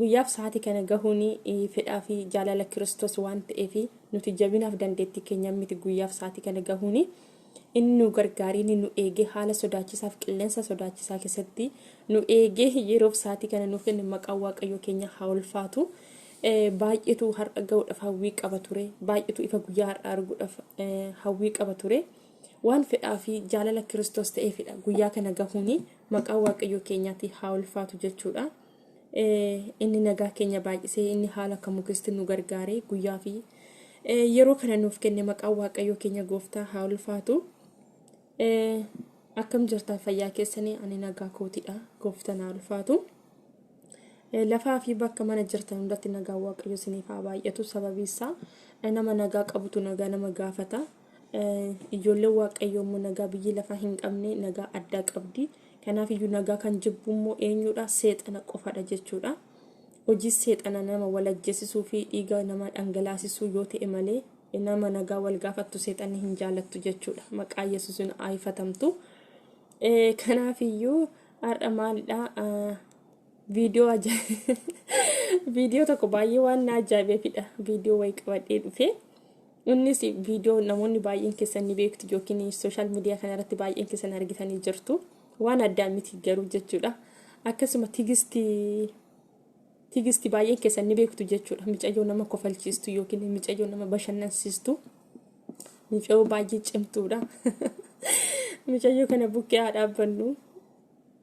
Guyyaaf sa'aatii kana gahuun fedhaa fi jaalala Kiristoos waan ta'eef nuti jabinaaf dandeettii keenyaan miti guyyaaf sa'aatii kana gahuun inni nu gargaaree inni nu eegee haala sodaachisaaf qilleensa sodaachisaa keessatti nu eegee yeroof sa'aatii kana nuuf kenne maqaan waaqayyoo keenya haa ulfaatu. Baay'eetu har'a gahuudhaaf hawwii qaba ture. Baay'eetu ifa guyyaa har'a arguudhaaf hawwii qaba ture. Waan fedhaa fi jaalala Kiristoos ta'eefidha guyyaa kana gahuun maqaan waaqayyoo keenyaati haa ulfaatu jechuudha. Inni nagaa keenya baay'isee inni haala kamuu keessatti nu gargaare guyyaa fi yeroo kana nuuf kenne maqaan waaqayyoo keenya gooftaa haa ulfaatu. Akkam jirtan fayyaa keessanii ani nagaa kootidha gooftaan haa ulfaatu. Lafaa fi bakka mana jirtan hundatti nagaa waaqayyoo isiniif haa baay'atu sababiin isaa nama nagaa qabutu nagaa nama gaafata. Ijoolleen Waaqayyoo immoo nagaa biyyi lafaa hin qabne nagaa addaa qabdi. Kanaaf iyyuu nagaa kan jibbu immoo eenyudha? Seexana qofadha jechuudha. Hojii seexana nama wal ajjeesisuu fi dhiiga namaa dhangalaasisuu yoo ta'e malee nama nagaa wal gaafattu seexanni hin jaalattu jechuudha. Maqaa Yesuusin haayifatamtu. Kanaaf iyyuu har'a maalidha? Viidiyoo ajaa'ibaa. Viidiyoo tokko baay'ee waan na ajaa'ibefidha. Viidiyoo wayii qabadhee dhufee. Innis viidiyoo namoonni baay'een keessan ni beektu yookiin sooshaal miidiyaa kanarratti baay'een keessan argitanii jirtu. Waan addaa miti garuu jechuudha. Akkasuma tigisti tigisti baay'een keessan ni beektu jechuudha. Micayyoo nama kofalchiistu yookiin micayyoo nama bashannansiistu. Micayyoo baay'ee cimtuudha. Micayyoo kana bukkee haa dhaabbannu.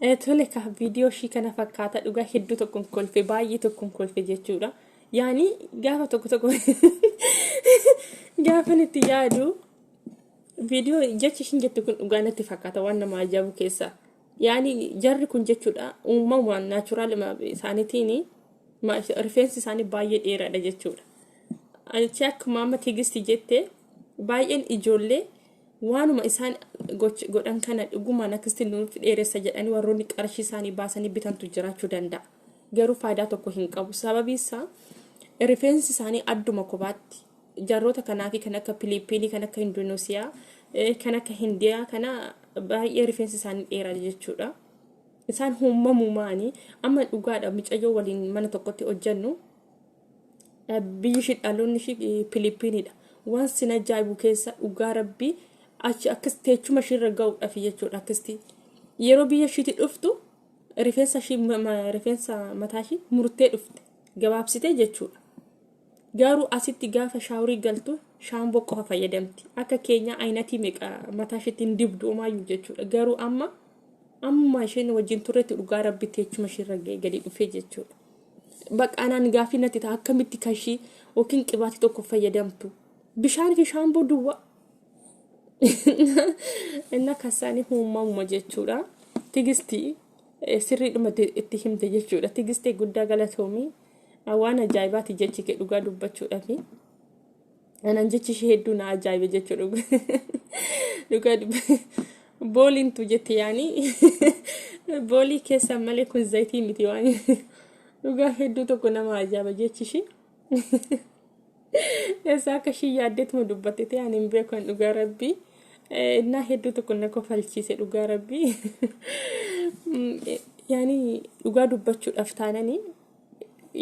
Eh, Tole ka viidiyoo ishii kana fakkaata dhugaa hedduu tokkoon kolfe baay'ee tokkoon kolfe jechuudha. Yaani gaafa tokko tokko gaafa nuti yaadu viidiyoo jechi ishiin jettu kun dhugaa natti fakkaata waan nama ajaa'ibu keessaa. Yaani jarri kun jechuudha uumamaan naachuraal isaaniitiin rifeensi isaanii baay'ee dheeraadha jechuudha. Achi akkuma amma tigisti jette baay'een ijoollee waanuma isaan goch- godhan kana dhugumaan akkasitti nuuf dheeressa jedhanii warroonni qarshii isaanii baasanii bitantu jiraachuu danda'a. Garuu faayidaa tokko hin qabu. Sababiin isaa rifeensi isaanii adduma kophaatti Jaarroota kanaa fi kan akka Piliippiinii, kan akka Indunuusiyaa, kan akka Hindiyaa kana baay'ee rifeensi isaanii dheeraa jechuudha. Isaan uumamumaanii amma dhugaadha micayyoo waliin mana tokkotti hojjennu biyyi ishii dhaloonni ishii Piliippiiniidha. Waan sin ajaa'ibu keessa dhugaa rabbii achi akkas teechuma ishii irra ga'uudhaaf jechuudha akkasitti. Yeroo biyya ishiitti dhuftu rifeensa ishii rifeensa mataa ishii murtee dhufte gabaabsitee jechuudha. Gaaruu asitti gaafa shaawrii galtu shaamboo qofa fayyadamti. Akka keenyaa ayinatii meeqa mataa isheetti hin dibdu omaayyuu jechuudha. Garuu amma amma isheen wajjin turretti dhugaa rabbitti jechuma isheerra ga'e gadi dhufee jechuudha. Bakka anaan gaaffii natti ta'a akkamitti kan ishii yookiin qibaatii tokko fayyadamtu. Bishaan fi shaamboo duwwaa. Inna kasaanii uumamuma jechuudha. Tigistii sirriidhuma itti himte jechuudha. Tigistee guddaa galatoomii. Waan ajaa'ibaati jechi kee dhugaa dubbachuudhafi. Anaan jechi ishee hedduu na ajaa'ibe jechuu dhuga. Dhugaa dubba. Booliin tu jette yaani. Boolii keessaan malee kun zayitii miti waan. Dhugaa hedduu tokko nama ajaa'iba jechi ishee. Eessaa akka ishii yaaddeetuma dubbatte ta'e ani hin beeku an dhugaa rabbii. Eh, Innaa hedduu tokko na kofalchiise dhugaa rabbii. Mm, eh, Yaani dhugaa dubbachuudhaaf taanani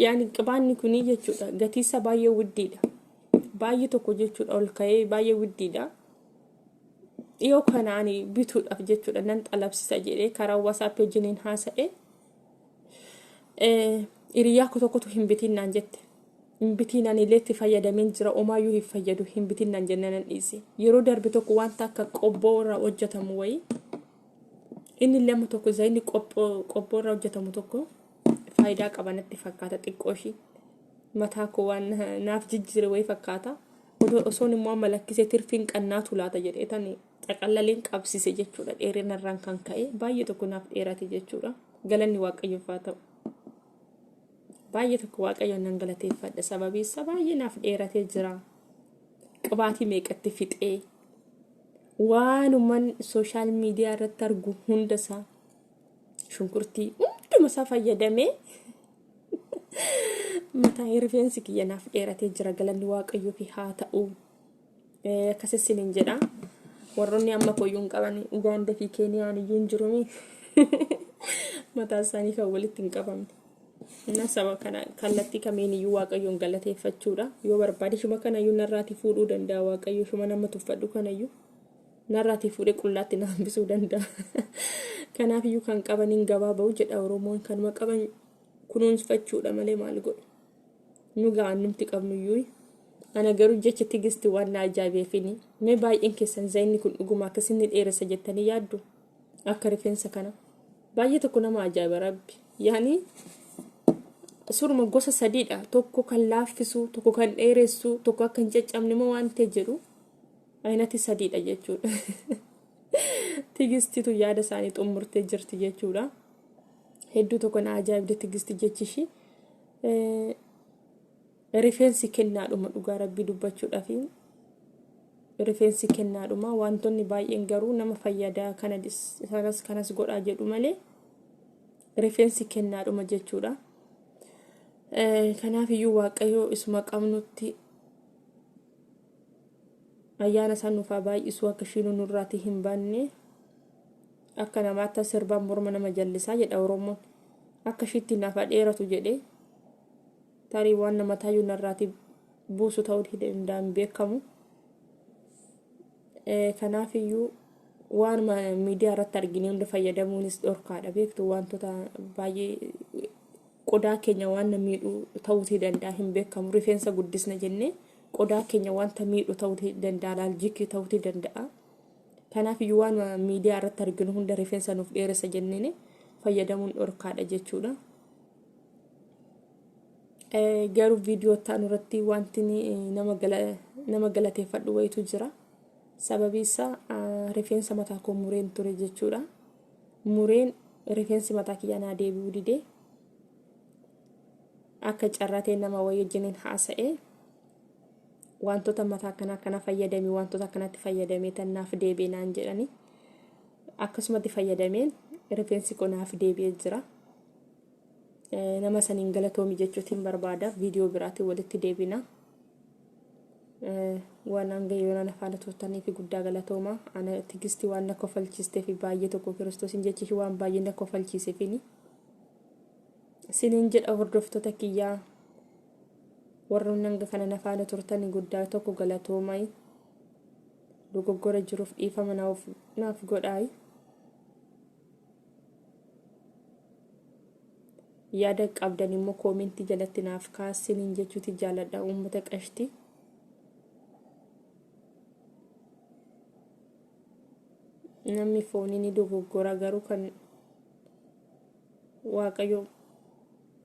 yaani qibaanni kunii jechuudha gatiinsa baay'ee widdiidha. Baay'ee tokko jechuudha ol ka'ee baay'ee widdiidha. Dhiyoo kana ani bituudhaaf jechuudha nan xalabsisa jedhee karaa wasaappi wajjiniin haasa'e. Hiriyaa koo tokkotu hin bitiin naan jette. Hin bitiin ani illee itti fayyadameen jira omaayyuu hin fayyadu hin bitiin naan jennaan nan dhiise. Yeroo darbe tokko wanta akka qobboo irraa hojjetamu wayii inni illee amma tokko zayinni qobboo irraa hojjetamu tokko faayidaa qaba natti fakkaata xiqqoo ishii mataa koo waan naaf jijjiire wayii fakkaata. Osoon immoo amma lakkisee tirfiin qannaatu laata jedhee tani xaqallaleen qabsise jechuudha dheerina irraan kan ka'e baay'ee tokko naaf dheerate jechuudha galanni waaqayyoof haa ta'u baay'ee tokko waaqayyoon nan galateeffadha sababii isaa baay'ee naaf dheeratee jira qibaatii meeqatti fixee waanuman sooshaal miidiyaa irratti argu hunda isaa shunkurtii hunduma isaa fayyadamee mataa rifeensi kiyya naaf dheeratee jira galanni waaqayyoof haa ta'u. Akkasissin hin jedha. Warroonni amma koyyuu hin qaban Ugaanda fi Keeniyaan iyyuu hin jirumi. Mataa isaanii kan walitti hin qabamne. Inna saba kana kallattii kamiin iyyuu waaqayyoon galateeffachuudha. Yoo barbaade shuma kana iyyuu narraati fuudhuu danda'a waaqayyo shuma nama tuffadhu kana iyyuu. Narraati fuudhee qullaatti na hambisuu danda'a. Kanaaf iyyuu kan qabaniin gabaa ba'u jedha Oromoon kanuma qaban kunuunfachuudha malee maal godhu. nu ga'an numti qabnuyyuu ana garuu jecha tigisti waan na ajaa'ibeefini mee baay'een keessan zayinni kun dhuguma akkas inni dheeressa jettanii yaaddu akka rifeensa kana baay'ee tokko nama ajaa'iba rabbi yaani suruma gosa sadiidha tokko kan laaffisu tokko kan dheeressu tokko akka hin caccabne moo waan ta'e jedhu ayinati sadiidha jechuudha tigistitu yaada isaanii xumurtee jirti jechuudha hedduu tokko na ajaa'ibde tigisti jechi ishii Rifeensi kennaadhuma dhugaa rabbii dubbachuudhafi rifeensi kennaadhuma wantoonni baay'een garuu nama fayyadaa kana sanas kanas godhaa jedhu malee rifeensi kennaadhuma jechuudha. Kanaaf iyyuu waaqayyoo isuma qabnutti ayyaana isaa nuuf haa baay'isuu akka ishiin nurraatii hin baanne. Akka namaatti as sirbaan morma nama jallisaa jedha Oromoon. Akka ishiitti naaf haa dheeratu jedhee tarii waan nama taayyuu narraati buusu ta'uu hin danda'a hin beekamu. Eh, Kanaaf iyyuu waan ma- miidiyaa irratti argine hunda fayyadamuunis dhorkaadha beektu wantoota baay'ee qodaa keenya waan na miidhu ta'uu hin danda'a hin beekamu rifeensa guddisna jennee qodaa keenya wanta miidhu ta'uu hin danda'a laaljikii ta'uu hin danda'a. Kanaaf iyyuu waan miidiyaa irratti arginu hunda rifeensa nuuf dheeressa jenneen fayyadamuun dhorkaadha jechuudha. Garuu viidiyoo ta'an irratti wanti nama galateeffadhu wayitu jira. Sababii isaa rifeensa mataa koo mureen ture jechuudha. Mureen rifeensi mataa kiyyaa naa deebi'uu didee akka carraa ta'e nama wayii wajjiniin haasa'ee Waantota mataa akkana akkana fayyadami waantota akkanatti fayyadamee tan naaf deebi'e naan jedhanii akkasumatti fayyadameen rifeensi koo naaf deebi'ee jira. Eh, Nama saniin galatoomi jechuutiin barbaada viidiyoo biraatiin walitti deebina. Eh, Waan hanga yoona na faana turtanii fi guddaa galatooma. Ana tigisti waan na kofalchiistee fi baay'ee tokko kiristoosiin jechi ishii waan baay'ee na kofalchiiseefini. Siniin jedha hordoftoota kiyyaa Warroonni hanga kana na faana turtani guddaa tokko galatoomai. Dogoggora jiruuf dhiifama naaf naaf godhaai. Yaada qabdan immoo koomentii jalatti naaf kaasiniin jechuuti jaaladha uummata qashti. Namni foonii ni dogoggora garuu kan waaqayyo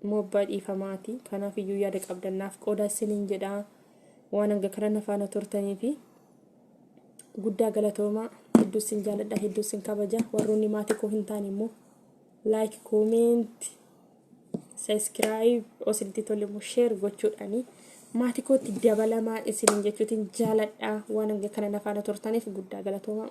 immoo abbaa dhiifamaati kanaaf iyyuu yaada qabdan naaf qoodaa isiniin jedhaa waan hanga kana na faana turtanii fi guddaa galatoomaa hedduu isin jaaladha hedduu isin kabaja warroonni maatii koo hin taane immoo laayik koomeenti sabiskiraayib osinitti tole immoo sheer gochuudhaanii maatii kootti dabalamaa isiniin jechuutiin jaaladha waan hanga kana na faana turtaniif guddaa galatoomaa.